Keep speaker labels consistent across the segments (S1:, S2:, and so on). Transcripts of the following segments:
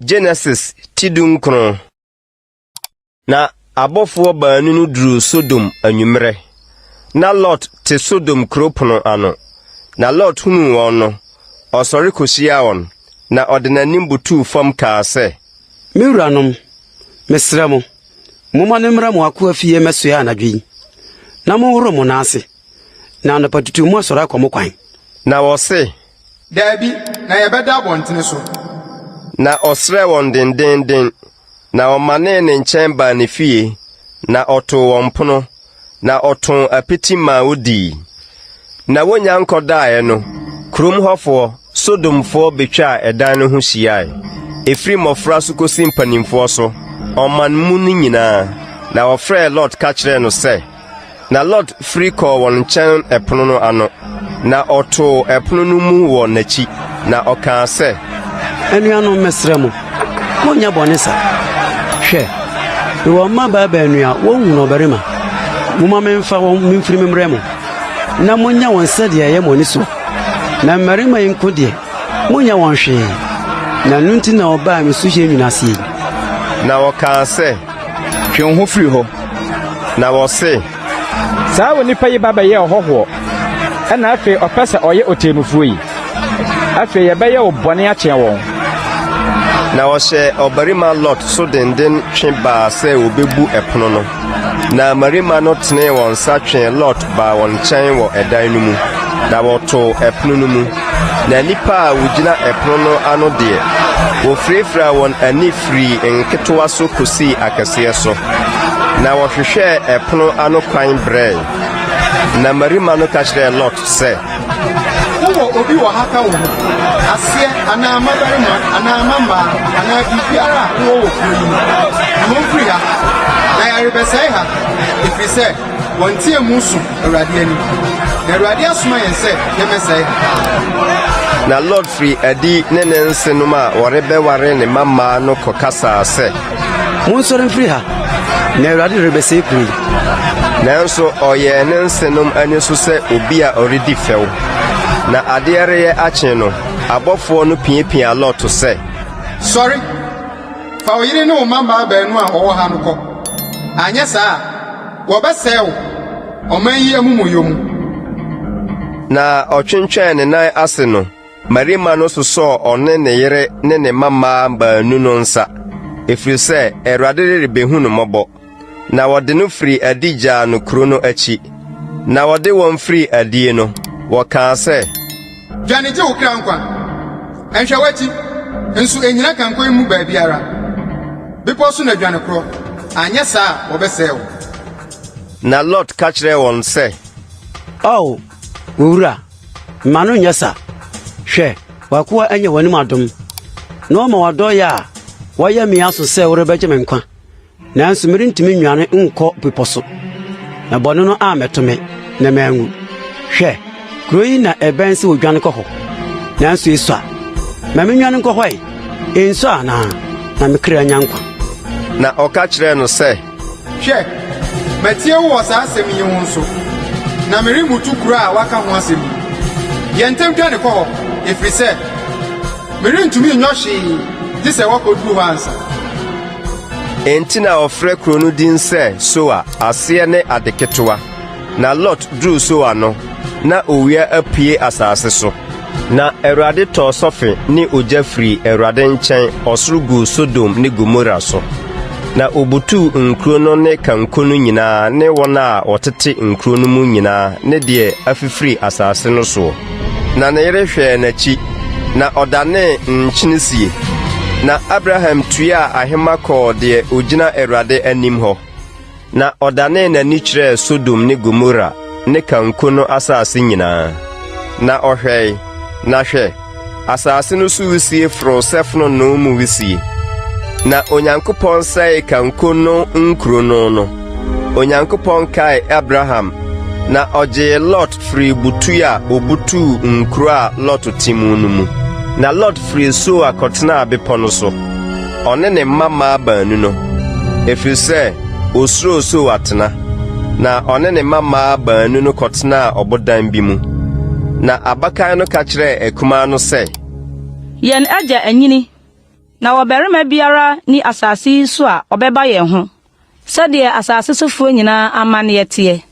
S1: Genesis ti dunkron na abɔfoɔ baanu no duruu Sodom anwummerɛ. Na Lot te Sodom kuro pono ano. Na Lot hunuu wɔn no, ɔsɔre kɔhyiaa wɔn, na ɔde n'anim butuu fam kaa sɛ, Me wuranom,
S2: mesrɛ mo, Momma no mmra mo akoa fie mmɛsoɛ anadwo yi, na monhoro mo nan ase, na anɔpatutuo moasɔre akɔ mo kwan. Na wɔse.
S1: Daabi,
S3: na yɛbɛda abɔntene so. Na
S1: ɔsrɛɛ wɔn dendeenden, na wɔmanee ne nkyɛn baa ne fie, na ɔtoo wɔn pono. na ɔtoo apiti maa wodii. Na wonnya nkɔdaeɛ no, kurom hɔfoɔ, Sodomfoɔ bɛtwaa ɛdan no ho hyiae, ɛfiri mmɔfra so kɔsi mpanimfoɔ so, ɔman mu no nyinaa, na wɔfrɛɛ Lot ka kyerɛɛ no sɛ. Na Lot firi kɔɔ wɔn nkyɛn ɛpono no ano. Na ɔtoo ɛpono no mu wɔ n'akyi, na ɔkaa sɛ. Anuanom,
S2: mesrɛ mo, monnyɛ bɔne sa. Hwɛ, mewɔ mmabaa baanu a wɔnhunu ɔbarima. Momma memfa wɔn mfiri mmrɛ mo, na monyɛ wɔn sɛdeɛ ɛyɛ mo ani soɔ. Na mmarima yi nko deɛ, monnyɛ wɔn hwee, na ɛno nti na wɔbaa me suhyeɛ nwunaaseɛ yi. Na
S1: wɔkaa sɛ, Twe wo ho firi
S4: hɔ! Na wɔse.
S1: Saa
S4: onipa yi ba bɛyɛɛ ɔhɔhoɔ, ɛna afei ɔpɛ sɛ ɔyɛ ɔtemmufoɔ yi. Afei yɛbɛyɛ wo bɔne akyɛn wɔn.
S1: Na ɔhyɛɛ ɔbarima Lot so denden twe baa sɛ wɔbɛbu ɛpono no. Na mmarima no tenee wɔn nsa twee Lot baa wɔn nkyɛn wɔ ɛdan no mu, na wɔtoo ɛpono no mu. Na nnipa a wogyina ɛpono no ano deɛ, wofirafiraa wɔn ani firii nketewa so kosii akɛseɛ so, na wɔhwehwɛɛ ɛpono ano kwan brɛe. Na mmarima no ka kyerɛɛ Lot sɛ, Wowɔ
S3: obi wɔ ha ka wo ho, aseɛ anaa mmabarima anaa mmammaa anaa biribiara a wowɔ wɔ kuro yi mu? Yi wɔn firi ha, na yɛrebɛsɛe ha, ɛfiri sɛ Wɔnteɛmu so Awurade anim. Na Awurade asoma yɛn sɛ yɛmmɛsɛe ha.
S1: Na Lot firi adi ne ne nsenom a wɔrebɛware ne mma mmaa no kɔkasaa sɛ. Monsɔre
S2: mfiri ha, na Awurade rebɛsɛe kuro yi. Nanso
S1: ɔyɛɛ ne nsenom ani so sɛ obi a ɔredi fɛw. Na adeɛ reyɛ akye no, abɔfoɔ no piapiaa Lot sɛ. Sɔre!
S3: Fa wo yere ne wo mma mmaa baanu a wɔwɔ ha no kɔ. Anyɛ saa a, wɔbɛsɛe wo ɔman yi amumɔyɛ mu.
S1: Na ɔtwentwɛn ne nan ase no, mmarima no sosɔɔ ɔne ne yere ne ne mma mmaa baanu no nsa, ɛfiri sɛ Awurade rebehu no mmɔbɔ. na wɔde no firii adi gyaa no kuro no akyi. Na wɔde wɔn firii adie no, wɔkaa sɛ. Dwane gye wo
S3: kra nkwa! Nhwɛ w'akyi, nso nnyina kanko yi mu baabiara. Bepɔ so na dwane korɔ, anyɛ saa a wɔbɛsɛe wo. Na
S1: Lot ka kyerɛɛ wɔn sɛ. Ao,
S2: owura, mma no nnyɛ sa. Hwɛ, w'akoa anya w'anim adom, na wama w'adɔeɛ a woayɛ me aso sɛ worebɛgye me nkwa. nanso merentumi nnwane nkɔ bepɔ so, na bɔne no ammɛto me na manwu. Hwɛ, kuro yi na ɛbɛn sɛ odwane kɔ hɔ, nanso esua. Ma minnwane nkɔ hɔ ɛ, enso anaa? Na me kra nya nkwa. Na ɔka
S1: kyerɛɛ no sɛ, Hwɛ,
S3: matie wo wɔ saa asɛm yi ho nso, na meremmutu kuro a woaka ho asɛm yi. Yɛ ntɛm dwane kɔ hɔ, ɛfiri sɛ Merentumi nyɔ hwee gye sɛ wɔkɔduru hɔ ansa.
S1: Enti na wɔfrɛ kuro no din sɛ Soar, aseɛ ne ade ketewa. Na Lot duruu Soar no, na owia apue asase so. Na Awurade tɔɔ sɔfe ne ogya firii Awurade nkyɛn ɔsoro guu Sodom ne Gomora so, na ɔbutuu nkuro no ne kanko no nyinaa ne wɔn a wɔtete nkuro no mu nyinaa ne deɛ afifiri asase no soɔ. Na ne yere hwɛɛ n'akyi, na ɔdanee nkyene sie. Na Abraham tuaa ahema kɔɔ deɛ ɔgyina Awurade anim hɔ, na ɔdanee n'ani kyerɛɛ Sodom ne Gomora ne kanko no asase nyinaa. Na ɔhwɛe, na hwɛ! asase no so wisie foroo sɛ fononoo mu wisie. Na Onyankopɔn sɛee kanko no nkuro no no. Onyankopɔn kaee Abraham, na ɔgyee Lot firii butuo a ɔbutuu nkuro a Lot te mu no mu. Na Lot firii Soar kɔtenaa bepɔ no so, ɔne ne mma mmaa baanu no, ɛfiri sɛ ɔsuroo Soar atena. Na ɔne ne mma mmaa baanu no kɔtenaa ɔbodan bi mu. Na abakan no
S5: ka
S1: kyerɛɛ akumaa no sɛ. Yɛn agya anyini, na
S5: ɔbarima biara nni asase yi so a ɔbɛba yɛn ho, sɛdeɛ asase sofoɔ nyinaa amanneɛ teɛ.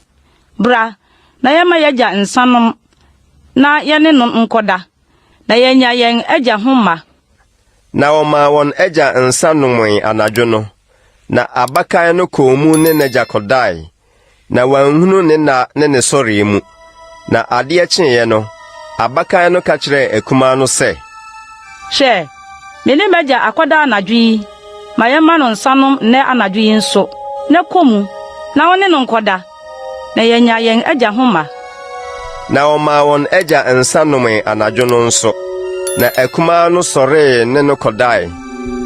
S5: Bra, na yɛmma y'agya nsã nnom na yɛne no nkɔda, na yɛanya yɛn agya ho mma. Na
S1: wɔmaa wɔn agya nsã nomee anadwo no, na abakan no kɔɔ mu ne n'agya kɔdae, na wanhunu ne nna ne ne sɔreɛ mu. Na adeɛ kyeeɛ no, abakan no ka kyerɛɛ akumaa no sɛ. Hwɛ,
S5: me ne m'agya akɔda anadwo yi, ma yɛmma no nsã nnom nnɛ anadwo yi nso, na kɔ mu, na wo ne no nkɔda, Na yɛanya yɛn agya ho mma. Na
S1: wɔmaa wɔn agya nsa nomee anadwo no nso. Na akumaa no sɔree ne no kɔdae,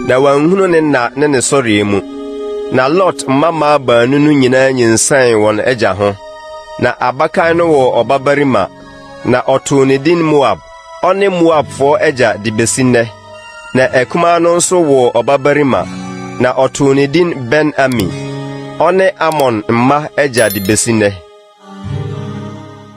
S1: na wanhunu ne nna ne ne sɔree mu. Na Lot mmammaa baanu no nyinaa nyinsɛn wɔn agya ho. Na abakan no woo ɔbabarima, na ɔtoo ne din Moab. Ɔne Moabfoɔ agya de bɛsi nnɛ. Na akumaa no nso woo ɔbabarima, na ɔtoo ne din Ben-Ami. Ɔne Amon mma agya de bɛsi nnɛ.